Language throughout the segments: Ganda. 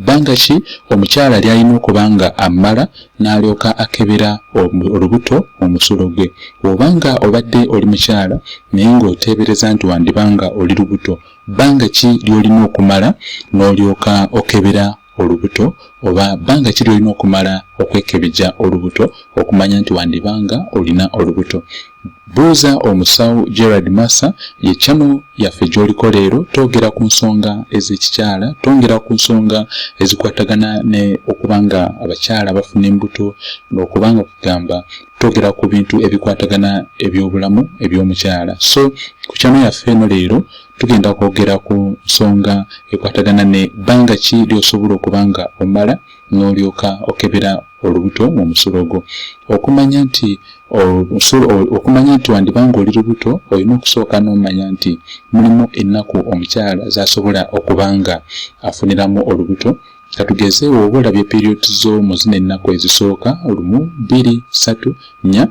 Bbanga ki omukyala ly'alina okuba nga ammala n'alyoka akebera olubuto mu musulo gwe? Bw'oba nga obadde oli mukyala naye ng'oteebereza nti wandiba nga oli lubuto, bbanga ki ly'olina okumala n'olyoka okebera olubuto oba bbanga ki ly'olina okumala okwekebejja olubuto okumanya nti wandiba nga olina olubuto? Buuza omusawo Gerard Massa ye channel yaffe gyoliko leero twogera ku nsonga ez'ekikyala twongera ku nsonga ezikwatagana ne okuba nga abakyala bafuna embuto n'okuba nga kugamba twogera ku bintu ebikwatagana eby'obulamu eby'omukyala so ku channel yaffe eno leero tugenda kwogera ku nsonga ekwatagana ne bbanga ki ly'osobola okuba nga omala n'olyoka okebera olubuto mu musulo gwo. Okumanya nti okumanya nti wandiba ng'oli lubuto olina okusooka n'omanya nti mulimu ennaku omukyala z'asobola okuba nga afuniramu olubuto katugeze oba olabye period zo mu zino ennaku ezisooka lumu bbiri ssatu nnya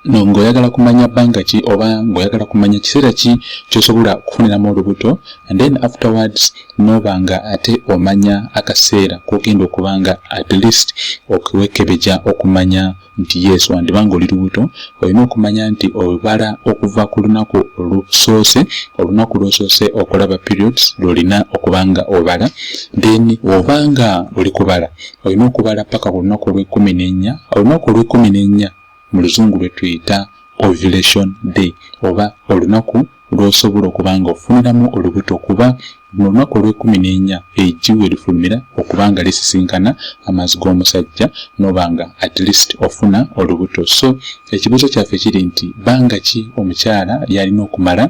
ng'oyagala kumanya bbanga ki oba ng'oyagala kumanya kiseera ki kyosobola okufuniramu olubuto and then afterwards nooba nga ate omanya akaseera kogenda okuba nga at least okuwekebeja okumanya nti yes wandiba nga oli lubuto olina okumanya nti obala okuva ku lunaku olusoose olunaku lwosoose okulaba periods lwolina okuba nga obala then oba nga oli kubala olina okubala paka ku lunaku olwekumi nenya olunaku olwekumi nenya mu luzungu lwe tuyita ovulation day oba olunaku lw'osobola okuba nga ofuniramu olubuto kuba mu lunaku olw'ekkumi n'enya eggi we lifulumira okuba nga lisisinkana amazzi g'omusajja n'oba nga at least ofuna olubuto so ekibuuzo kyaffe kiri nti bbanga ki omukyala lyalina okumala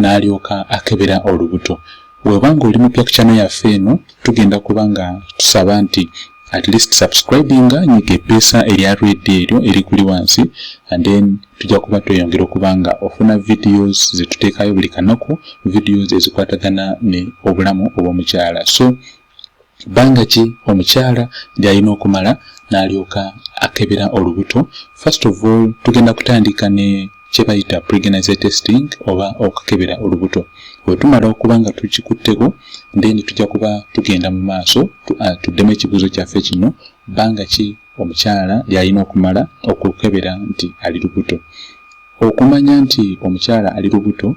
n'alyoka akebera olubuto webanga oli mupya ku kyano yaffe eno tugenda kuba nga tusaba nti at least subscribing nyiga epeesa erya red eryo erikuli wansi and then tujja kuba tweyongera okuba nga ofuna videos zetuteekayo buli kanaku videos ezikwatagana ne obulamu obwomukyala so bbanga ki omukyala lyalina okumala n'alyoka akebera olubuto first of all tugenda kutandika ne kye bayita pregnancy testing oba okukebera olubuto bwe tumala okuba nga tukikutteko then tujja kuba tugenda mu maaso uh, tuddemu ekibuuzo kyaffe kino bbanga ki omukyala lyalina okumala okukebera nti ali lubuto okumanya nti omukyala ali lubuto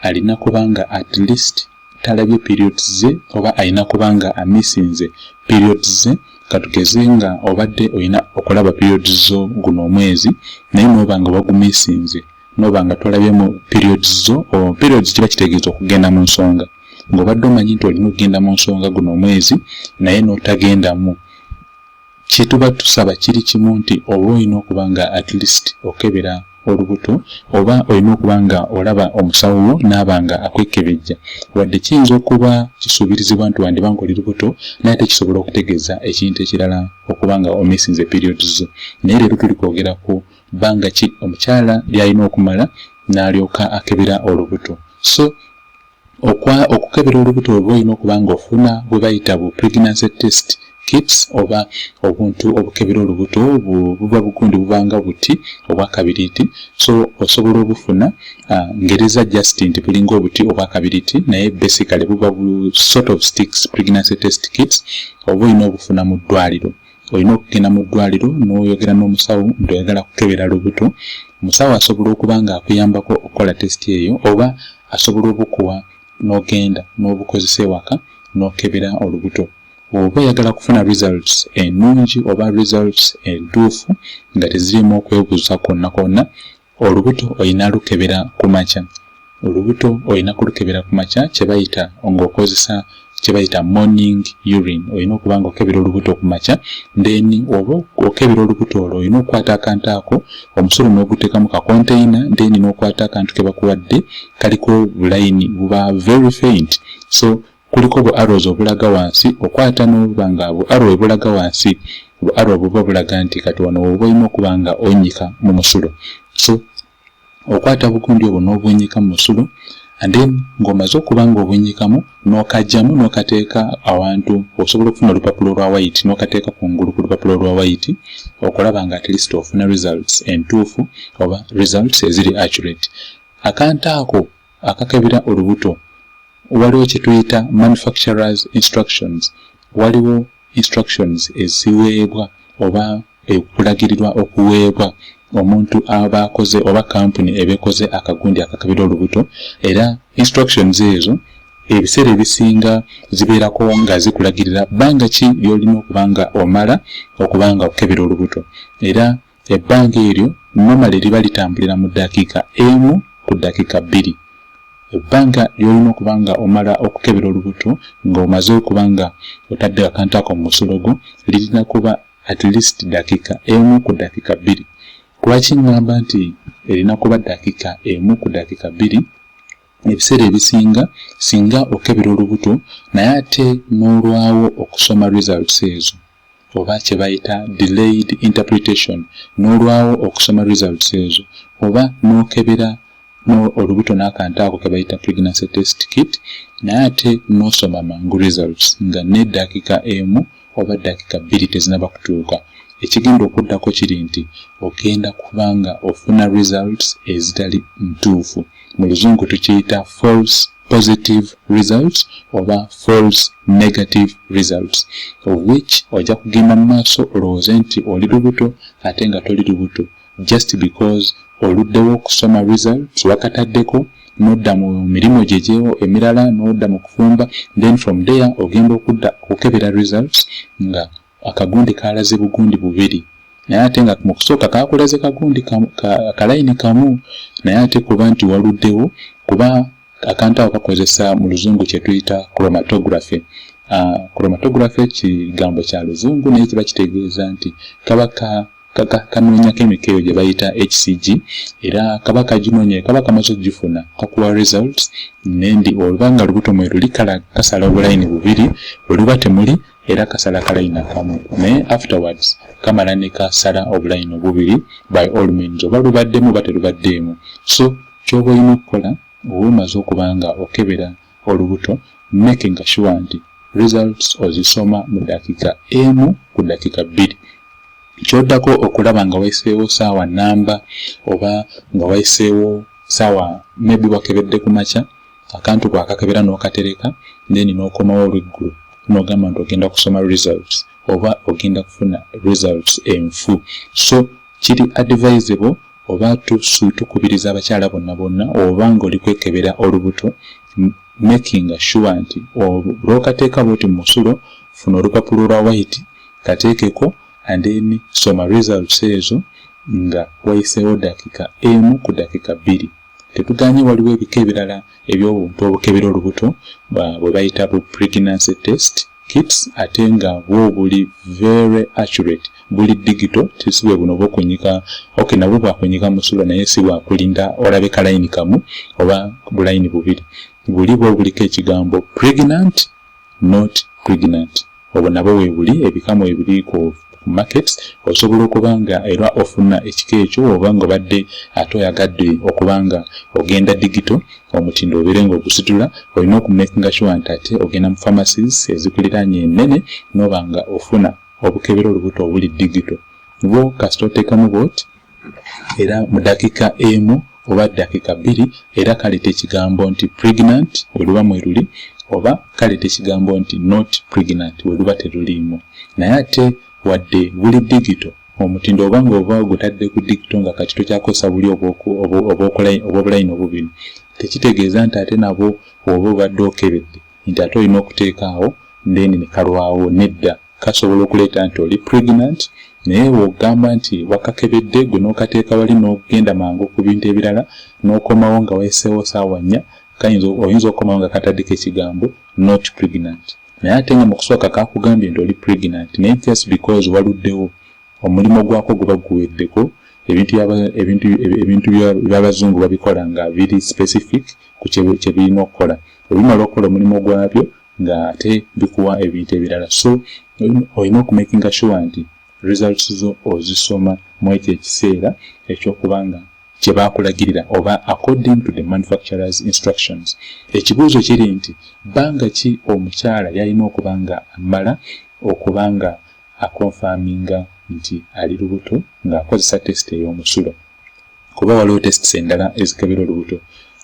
alina kuba nga at least talabye periods ze oba alina kuba nga amisinze periods ze katugeze nga obadde olina okulaba periods zo guno omwezi naye noba nga wagumisinze noba nga tolabyemu periods zo periods kiba kitegeeza okugenda mu nsonga ng'obadde omanyi nti olina okugenda mu nsonga guno omwezi naye n'otagendamu kyetuba tusaba kiri kimu nti oba olina okuba nga at least okebera olubuto oba olina okuba nga olaba omusawo wo naaba nga akwekebejja wadde kiyinza okuba kisuubirizibwa nti wandiba nga oli lubuto naye ate kisobola okutegeeza ekintu ekirala okuba nga omisinze period zo naye leero tuli kwogera ku bbanga ki omukyala lyalina okumala n'alyoka akebera olubuto so Okwa okukebera olubuto oba olina okuba ng'ofuna bwe bayita bu pregnancy test kits oba obuntu obukebera olubuto buba bugundi buba nga buti obwakabiriiti so osobola obufuna uh, ngereza just nti bulinga obuti obwakabiriiti naye basically buba bu sort of sticks pregnancy test kits oba olina obufuna mu ddwaliro olina okugenda mu ddwaliro n'oyogera n'omusawo nti oyagala kukebera lubuto omusawo asobola okuba ng'akuyambako okukola test eyo oba asobola obukuwa n'ogenda n'obukozesa ewaka n'okebera olubuto oba oyagala kufuna results ennungi oba results entuufu nga tezirimu okwebuuza kwonna kwonna Olubuto olina lukebera ku makya. Olubuto olina kulukebera ku makya kye bayita ng'okozesa kye bayita morning urine. Olina okuba ng'okebera olubuto ku makya, then oba okebera olubuto olwo olina okukwata akantu ako omusolo n'oguteeka mu kakonteyina, then n'okwata akantu ke bakuwadde kaliko bulayini buba very faint so kuliko bu arrows obulaga wansi okwata nobuba nga bu arrow ebulaga wansi bu arrow buba bulaga nti kati wano woba olina okuba nga onyika mu musulo so okwata bugundi obwo n'obunyika mu musulo and then ng'omaze okuba nga obunyikamu n'okajjamu n'okateeka awantu osobola okufuna olupapula olwa wayiti n'okateeka ku ngulu ku lupapula olwa wayiti okulaba nga at least ofuna results entuufu oba results eziri accurate akantu ako akakebera olubuto waliwo kyetuyita manufacturers instructions waliwo instructions eziweebwa oba ekulagirirwa okuweebwa omuntu aba akoze oba kampuni eba ekoze akagundi akakebera olubuto era instructions ezo ebiseera ebisinga zibeerako nga zikulagirira bbanga ki lyolina okuba nga omala okuba nga okukebera olubuto era Ebbanga eryo nomale liba litambulira mu ddakiika emu ku ddakiika bbiri. Ebbanga ly'olina okuba nga omala okukebera olubuto nga omaze okuba nga otadde akantu ako mu musulo gwo lirina kuba at least ddakiika emu ku ddakiika bbiri. Lwaki ngamba nti erina kuba ddakiika emu ku ddakiika bbiri? Ebiseera ebisinga singa okebera olubuto naye ate n'olwawo okusoma results ezo, oba kye bayita delayed interpretation n'olwawo okusoma results ezo oba n'okebera no olubuto n'akantu ako ke bayita pregnancy test kit naye ate n'osoma mangu results nga n'eddaakika emu oba dakika bbiri tezinaba kutuuka ekigenda okuddako kiri nti ogenda kubanga ofuna results ezitali ntuufu mu luzungu tukiyita false positive results oba false negative results of which ojja kugenda mu maaso olowooze nti oli lubuto ate nga toli lubuto just because oluddewo okusoma results wakataddeko nodda mu mirimu gye gyewo emirala nodda mu kufumba then from there ogenda okudda okukebera results nga Akagundi kaalaze bugundi bubiri naye ate nga mu kusooka kaakulaze kagundi akalayini kamu naye ate kuba nti waluddewo kuba akantu ako kakozesa mu luzungu kye tuyita chromatography chromatography kigambo kya luzungu naye kiba kitegeeza nti kaba ka kanoonyako emikeeyo gye bayita hcg era kaba kaginoonya kaba kamaze okugifuna kakuwa results nendi oluba nga lubuto mwe luli kala kasala obulayini bubiri bwe luba temuli era kasala kalayina kamu naye afterwards kamala ne kasala obulayina obubiri by all means oba lubaddemu oba terubaddeemu so kyoba olina okukola oba omaze okuba nga okebera olubuto make nga shuwa nti results ozisoma mu dakiika emu ku dakiika bbiri kyoddako okulaba nga wayiseewo saawa namba oba nga wayiseewo saawa maybe wakebedde ku makya akantu ko akakebera n'okatereka then n'okomawo olweggulo n'ogamba nti ogenda kusoma results oba ogenda kufuna results enfu so kiri advisable oba tukubiriza abakyala bonna bonna oba ng'oli kwekebera olubuto making sure nti lw'okateeka bwoti mu musulo funa olupapula olwa white kateekeko and then soma results ezo nga wayiseewo dakika emu ku dakika bbiri Tetuganye waliwo ebika ebirala eby'obuntu obukebera olubuto bwe bayita bu pregnancy test kits ate nga bwo buli very accurate buli digital si bwe buno obw'okunyika ok nabwo bwakunyika mu sula naye si bwakulinda olabe kalayini kamu oba bulayini bubiri buli bwo buliko ekigambo pregnant not pregnant obwo nabwo webuli ebika mwebiri ku market osobola okuba nga era ofuna ekika ekyo oba nga obadde ate oyagadde okuba nga ogenda digito omutindo obeere nga ogusitula olina okumakinga sure nti ate ogenda mu pharmacies ezikuliraanye ennene noba nga ofuna obukebera olubuto obuli digito bwo kasita oteekamu bwoti era mu dakika emu oba dakika bbiri era kaleta ekigambo nti pregnant weluba mweruli oba kaleta ekigambo nti not pregnant weluba teruliimu naye ate wadde buli digito omutindo oba nga oba gutadde ku digito nga kati tokyakozesa buli obwobulayini obubiri tekitegeeza nti ate nabwo oba obadde okebedde nti ate olina okuteekaawo then nekalwawo nedda kasobola okuleeta nti oli pregnant naye wogamba nti wakakebedde gwe nokateeka wali nogenda mangu ku bintu ebirala nokomawo nga wayiseewo saawa nnya kayinza oyinza okomawo nga kataddeko ekigambo not pregnant naye ate nga mukusooka kakugambye nti oli pregnant naye just because waluddewo omulimu gwako guba guweddeko ebintu ebintu ebintu byabazungu babikola nga biri specific ku kyebirina okukola ebimala okukola omulimu gwabyo nga ate bikuwa ebintu ebirala so olina okumakinga sure nti results zo ozisoma mu ekyo ekiseera ekyokuba nga kye baakulagirira oba according to the manufacturers instructions ekibuuzo kiri nti bbanga ki omukyala yalina okuba nga ammala okuba nga akonfaminga nti ali lubuto ng'akozesa tesite ey'omusulo kuba waliwo tests endala ezikebera olubuto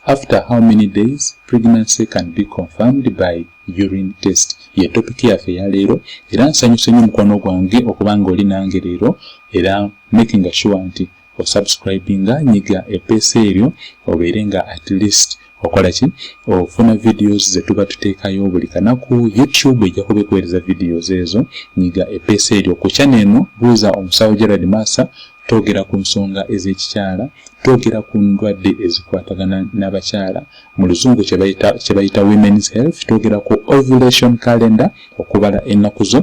after how many days pregnancy can be confirmed by urine test ye topic yaffe ya leero era nsanyuse nyo mukwano gwange okuba nga oli nange leero era making sure nti osubscribinga nyiga epeesa eryo obeere nga at least okola ki ofuna videos zetuba tuteekayo buli kanaku youtube ejja kuba ekuweereza videos ezo nyiga epeesa eryo ku chana eno buuza omusawo gerald masa twogera ku nsonga ez'ekikyala twogera ku ndwadde ezikwatagana n'abakyala mu luzungu kye bayita women's health twogera ku ovulation calendar okubala ennaku zo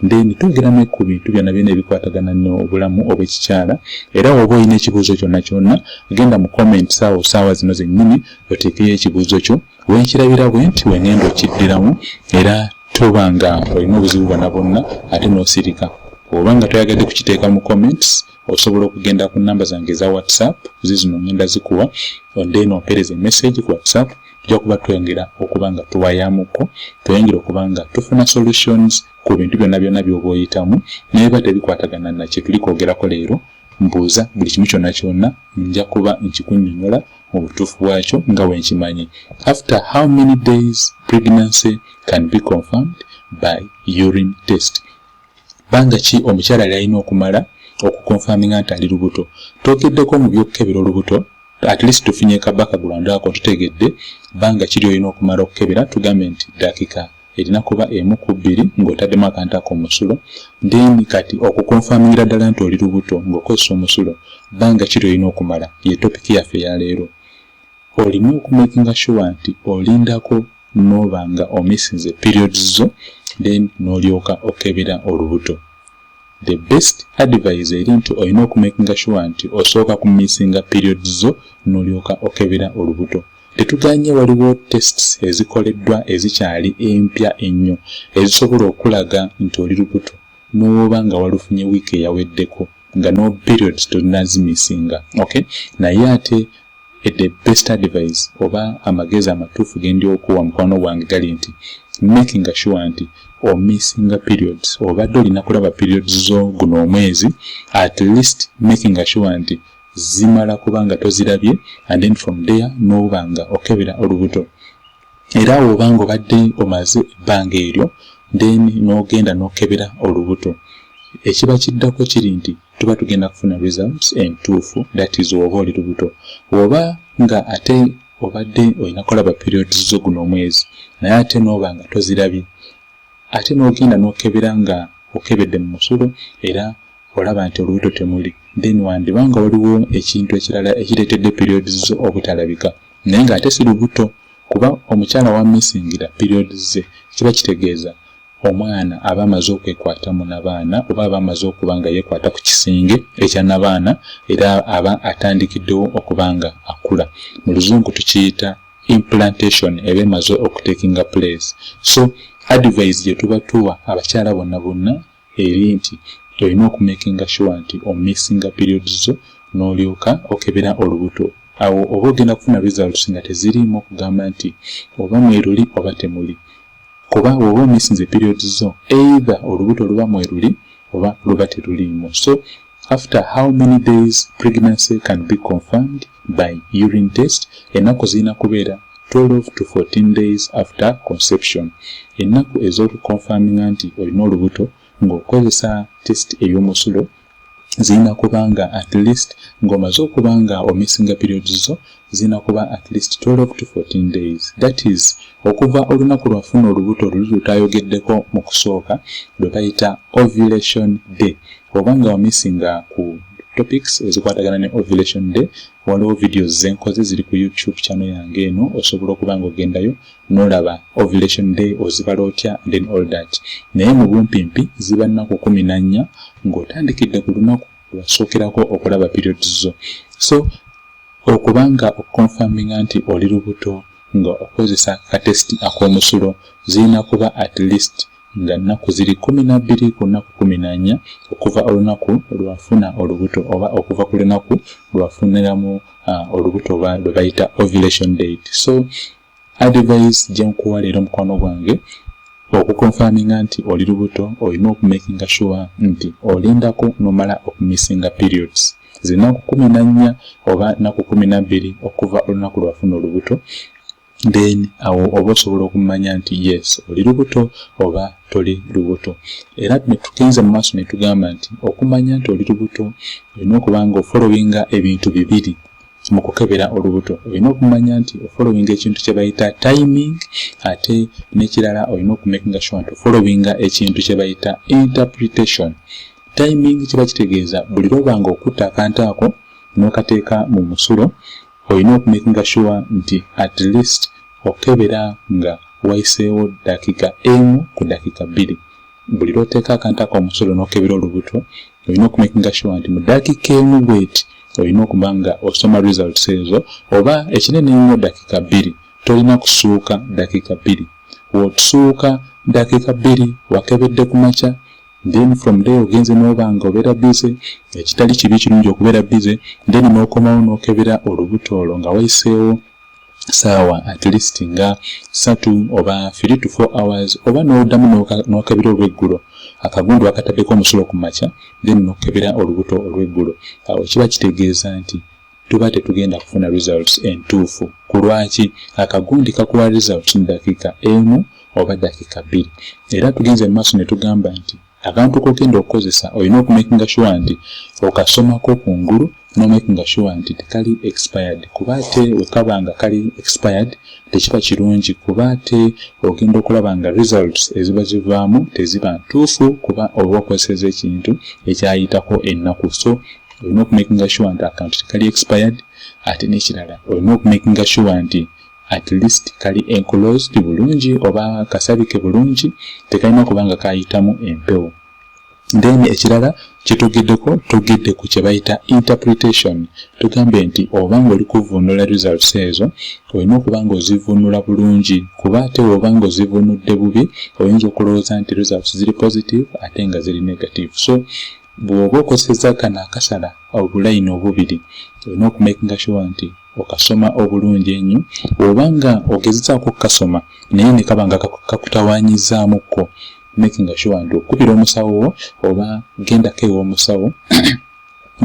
then twogera ne ku bintu byonna byona ebikwatagana n'obulamu obw'ekikyala era woba olina ekibuuzo kyonna kyonna genda mu comment saawa osaawa zino zennyini oteekeyo ekibuuzo kyo wenkirabira bwe nti wengenda okiddiramu era toba nga olina obuzibu bwona bwonna ate n'osirika oba nga toyagadde kukiteeka mu comments osobola okugenda ku namba zange eza whatsapp zizino ngenda zikuwa then ompereza emessage ku whatsapp tujja kuba twengera okuba nga tuwayamuko tweyongera okuba nga tufuna solutions ku bintu byonna byonna byoba oyitamu naye ba tebikwatagana na kyetuli kwogerako leero mbuuza buli kimu kyonna kyonna nja kuba nkikunyonyola mu butuufu bwakyo nga wenkimanyi after how many days pregnancy can be confirmed by urine test Banga ki omukyala lyalina okumala okukonfaminga nti ali lubuto? Twogeddeko mu by'okukebera olubuto at least tufunye ka background ako tutegedde banga ki lyolina okumala okukebera tugambe nti dakika erina kuba emu ku bbiri ng'otaddemu akantu ako omusulo then kati okukonfamingira ddala nti oli lubuto ng'okozesa omusulo banga ki lyolina okumala ye topiki yaffe yaleero olina okumakinga sure nti olindako noba nga omissinze periods zo then nolyoka okebera olubuto the best advise eri nti olina okumakinga sure nti osooka ku missinga periods zo nolyoka okebera olubuto tetuganye waliwo tests ezikoleddwa ezikyali empya ennyo ezisobola okulaga nti oli lubuto nowoba nga walufunye week eyaweddeko nga no periods tolinazimisinga okay naye ate eh, the best advice oba amagezi amatuufu gendi okuwa mukwano gwange gali nti making sure nti omissinga periods obadde olina kulaba periods zo guno omwezi at least making sure nti zimala kubanga tozirabye and then from there noba nga okebera olubuto era awo oba nga obadde omaze ebbanga eryo then n'ogenda n'okebera olubuto ekiba kiddako kiri nti tuba tugenda kufuna results entuufu that is oba oli lubuto oba nga ate obadde olina kulaba periods zo guno omwezi naye ate n'oba nga tozirabye ate n'ogenda n'okebera nga okebedde mu musulo era olaba nti olubuto temuli then wandiba nga waliwo ekintu ekirala ekireetedde periods zo obutalabika naye nga ate si lubuto kuba omukyala wa missingira period ze kiba kitegeeza omwana aba amaze okwekwata mu nabaana oba aba amaze okuba nga yekwata ku kisinge ekya nabaana era aba atandikiddewo okuba nga akula mu luzungu tukiyita implantation eba emaze okutekinga place so advise gye tuba tuwa abakyala bonna bonna eri nti olina oku makinga sure nti o mixinga periods zo n'olyoka okebera olubuto awo oba ogenda kufuna results nga teziriimu kugamba nti oba mweruli oba temuli kuba bwoba omissinze periods zo either olubuto luba mweruli oba luba teruliimu so after how many days pregnancy can be confirmed by urine test ennaku zirina kubeera 12 to 14 days after conception ennaku ez'okukonfaminga nti olina olubuto ng'okozesa test ey'omusulo zirina kuba nga at least ng'omaze okuba nga omisinga periods zo zirina kuba at least 12 to 14 days that is okuva olunaku lwafuna olubuto luli lutayogeddeko mu kusooka lwe bayita ovulation day oba nga wamisinga ku topics ezikwatagana ne ovulation day waliwo videos zenkoze ziri ku youtube channel yange eno osobola okuba nga ogendayo nolaba ovulation day ozibala otya and then all that naye mu bumpimpi ziba nnaku kumi na nnya ng'otandikidde ku lunaku lwasookerako okulaba periods zo so okuba nga okukonfaminga nti oli lubuto nga okozesa katesiti ak'omusulo zirina kuba at least nga nnaku ziri kumi na bbiri ku nnaku kumi na nnya okuva olunaku lwafuna olubuto oba okuva ku lunaku lwafuniramu uh, olubuto oba lwe bayita ovulation date so advise gye nkuwa leero mukwano gwange okukonfaminga nti oli lubuto olina okumakinga sure nti olindako nomala okumissinga periods zinaku kumi na nnya oba naku kumi na bbiri okuva olunaku lwafuna olubuto then awo oba osobola okumanya nti yes oli lubuto oba toli lubuto era netugenze mu maaso netugamba nti okumanya nti oli lubuto olina okuba nga ofolowinga ebintu bibiri mu kukebera olubuto olina okumanya nti ofolowinga ekintu kye bayita timing ate n'ekirala olina okumakinga sure nti ofolowinga ekintu kye bayita interpretation timing kiba kitegeeza buli lwoba nga okutta akantu ako n'okateeka mu musulo olina okumakinga sure nti at least okebera nga wayiseewo dakiika emu ku dakiika bbiri buli lwoteeka akantu ako omusolo nokebera olubuto olina okumakinga sure nti mu dakiika emu bweti olina okuba nga osoma results ezo oba ekinene ennyo dakiika bbiri tolina kusuuka dakiika bbiri wotusuuka dakiika bbiri wakebedde ku makya then from day ogenze noba nga obeera busy ekitali kibi kirungi okubeera busy then nokomawo nokebera olubuto olwo nga wayiseewo saawa at least nga satu oba 3 to 4 hours oba nodamu nokebera olweggulo akagundu akataddeko omusulo ku makya then nokebera olubuto olweggulo awo kiba kitegeeza nti tuba tetugenda kufuna results entuufu ku lwaki akagundi kakuwa results mu dakiika emu oba dakiika bbiri era tugenze mu maaso ne tugamba nti akantu kogenda okukozesa olina okumakinga shuwa nti okasomako ku ngulu nomakinga shuwa nti tekali expired kuba ate wekaba nga kali expired tekiba kirungi kuba ate ogenda okulaba nga results eziba zivaamu teziba ntuufu kuba oba okozeseza ekintu ekyayitako ennaku so olina okumakinga sure nti akawunti tekali expired ate n'ekirala olina okumakinga sure nti at least kali enclosed bulungi oba kasabike bulungi tekalina kuba nga kayitamu empewo then ekirala kyetogeddeko togedde ku kyebayita interpretation tugambye nti oba nga oli kuvvuunula results ezo olina okuba nga ozivvuunula bulungi kuba ate oba nga ozivvuunudde bubi oyinza okulowooza nti results ziri positive ate nga ziri negative so Bwoba okozeseza kano akasala obulayini obubiri olina okumakinga shuwa nti okasoma obulungi enyo oba nga ogezezaako okukasoma naye nekaba nga kakutawanyizaamu ko makinga shuwa nti okubira omusawo wo oba gendako ewomusawo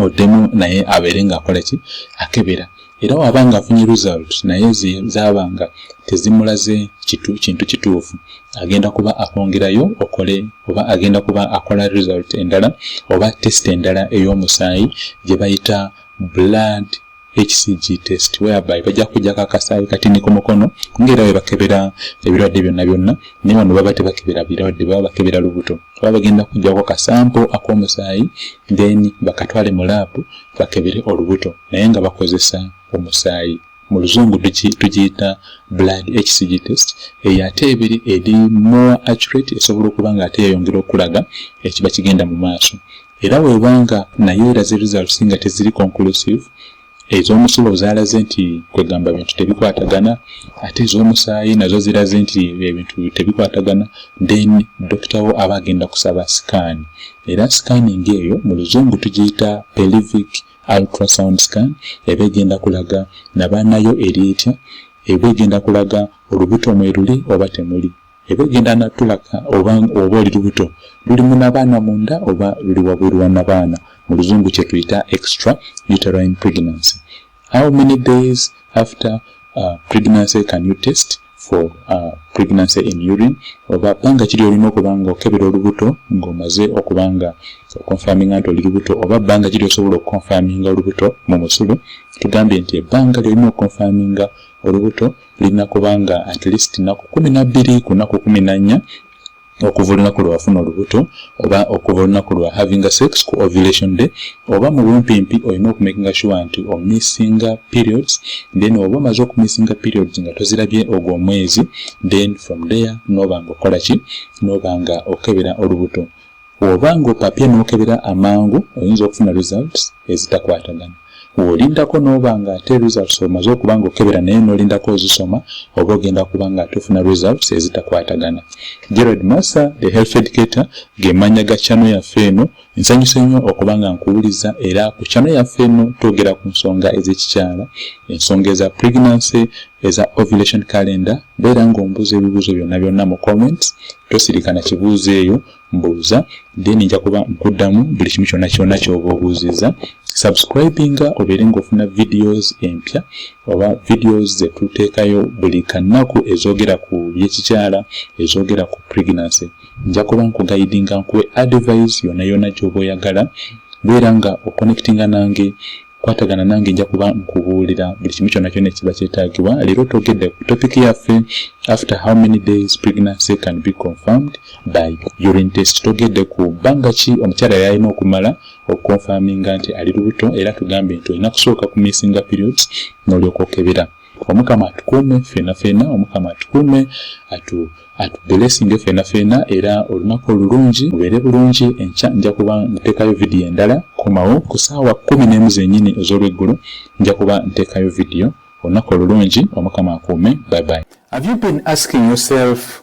oddemu naye abeere nga akolaki akebera era waba nga afunye result naye zabanga tezimulaze kitu kintu kituufu agenda kuba akwongerayo okole oba agenda kuba akola result endala oba test endala ey'omusaayi gye bayita blood hcg test whereby bajja kujjako akasaayi katini ku mukono ngaera webakebera ebirwadde byonna byonna naye wano baba tebakebera birwadde baba bakebera lubuto kuba bagenda kujjako kasampo ak'omusaayi then bakatwale mu laabu bakebere olubuto naye nga bakozesa omusaayi mu luzungu tugiyita blood hcg test eyo ate ebiri eri more accurate esobola okuba nga ate yeyongera okulaga ekiba kigenda mu maaso era webanga nayo eraze results nga teziri conclusive ez'omusulo zaalaze nti kwegamba bintu tebikwatagana ate ez'omusaayi nazo ziraze nti ebintu tebikwatagana then dokita wo aba agenda kusaba sikaani era sikaani ng'eyo mu luzungu tugiyita pelivic ultrasound scan eba egenda kulaga nabaanayo eri etya eba egenda kulaga olubuto mwe luli oba temuli eba egenda natulaka oba oba oli lubuto luli munabaana munda oba luli wabweru wa nabaana mu luzungu kyetuyita extra uterine pregnancy how many days after uh, pregnancy can you test for uh, pregnancy in urine oba bbanga kiri olina okuba nga okebera olubuto ng'omaze okuba nga okonfaminga nti oli lubuto oba bbanga kiri osobola okukonfaminga olubuto mu musulu tugambye nti ebbanga lyolina okukonfaminga olubuto lirina kuba nga at least naku kumi nabbiri ku naku kumi nannya okuva olunaku lwe wafuna olubuto oba okuva olunaku lwa having a sex ku ovulation day oba mu bumpimpi olina okumakinga sure nti omissinga periods then oba omaze okumissinga periods nga tozirabye ogwo omwezi then from there noba nga okola ki noba nga okebera olubuto Woba nga opapye nokebera amangu oyinza okufuna results ezitakwatagana. Wolindako noba nga ate results omaze okuba nga okebera naye nolindako ozisoma oba ogenda kuba nga ate ofuna results ezitakwatagana. Gerald Massa, the health educator, ge manya ga channel yaffe eno. Nsanyuse nnyo okuba nga nkuwuliza era ku channel yaffe eno twogera ku nsonga ezekikyala, ensonga eza pregnancy, eza ovulation calendar. Beera nga ombuuza ebibuuzo byonna byonna mu comments tosirika na kibuuzo eyo mbuuza then nja kuba nkuddamu buli kimu kyonna kyonna kyoba obuuzizza subscribinga obeere ngaofuna videos empya oba videos zetuteekayo buli kannaku ezoogera ku byekikyala ezoogera ku pregnancy nja kuba nkugayidinga nkuwe advise yona yona gyoba oyagala beera nga oconnectinga nange kwatagana nange nja kuba nkubuulira buli kimu kyonna kyonna ekiba kyetaagibwa leero togedde ku topic yaffe after how many days pregnancy can be confirmed by urine test togedde ku bbanga ki omukyala yalina okumala okukonfaminga nti ali lubuto era tugambe nti olina kusooka ku missinga periods n'olyoka okebera omukama atukuume fena fena omukama atukuume atu atuberesinge fena fena era olunaku olulungi mubeere bulungi enkya nja kuba ntekayo vidiyo endala komawo ku saawa kumi n'emu zenyini ez'olweggulo nja kuba ntekayo vidiyo olunaku olulungi omukama akuume bye bye have you been asking yourself